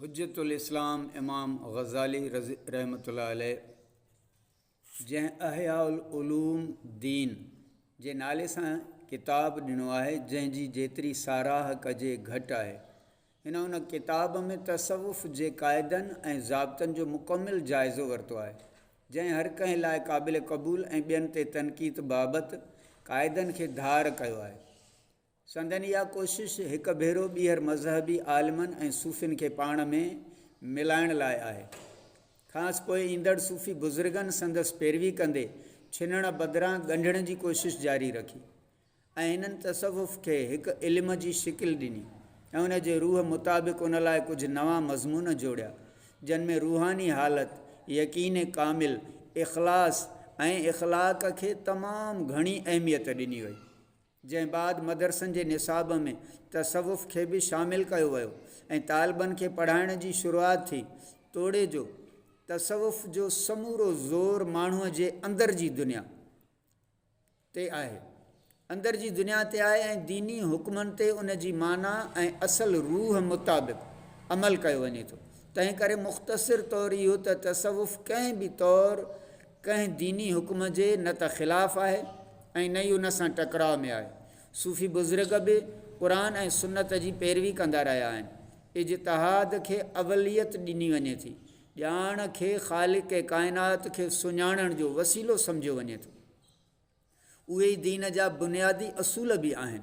حجت الاسلام امام غزالي رضي رحمت الله عليه جنهن احياء العلوم دين جي نالي سان ڪتاب ڏنو آهي جنهن جي جيتري ساراهه ڪجي گهٽ آهي هن ان ڪتاب ۾ تصوف جي قاعدن ۽ ضابطن جو مڪمل جائزو ورتو آهي جنهن هر ڪنهن لاء قابل قبول ۽ ٻين تي تنقيد بابت قاعدن کي ڌار ڪيو آهي سندن اها ڪوشش هڪ ڀيرو ٻيهر مذهبي عالمن ۽ صوفين کي پاڻ ۾ ملائڻ لاء آهي. کانئس پوء ايندڙ صوفي بزرگن سندس پيروي ڪندي ڇنڻ بدران ڳنڍڻ جي ڪوشش جاري رکي ۽ هنن تصوف کي هڪ علم جي شڪل ڏني ۽ ان جي روح مطابق ان لاء ڪجهه نوان مضمون جوڙيا جن ۾ روحاني حالت، يقين ڪامل، اخلاص ۽ اخلاق کي تمام گهڻي اهميت ڏني وئي. جنهن بعد مدرسن جي نصاب ۾ تصوف کي به شامل ڪيو ويو ۽ طالبن کي پڙهائڻ جي شروعات ٿي. توڙي جو تصوف جو سمورو زور ماڻهوء جي اندر جي دنيا تي آهي اندر جي دنيا تي آهي ۽ ديني حڪمن تي ان جي معنيٰ ۽ اصل روح مطابق عمل ڪيو وڃي ٿو. تنهن ڪري مختصر طور اهو ته تصوف ڪنهن به طور ڪنهن ديني حڪم جي نه ته خلاف آهي ۽ نه ئي ان سان ٽڪراء ۾ آهي. صوفي بزرگ به قرآن ۽ سنت جي پيروي ڪندا رهيا آهن. اجتهاد کي اوليت ڏني وڃي ٿي. ڄاڻ کي خالق ڪائنات کي سڃاڻڻ جو وسيلو سمجهيو وڃي ٿو. اهي ئي دين جا بنيادي اصول به آهن.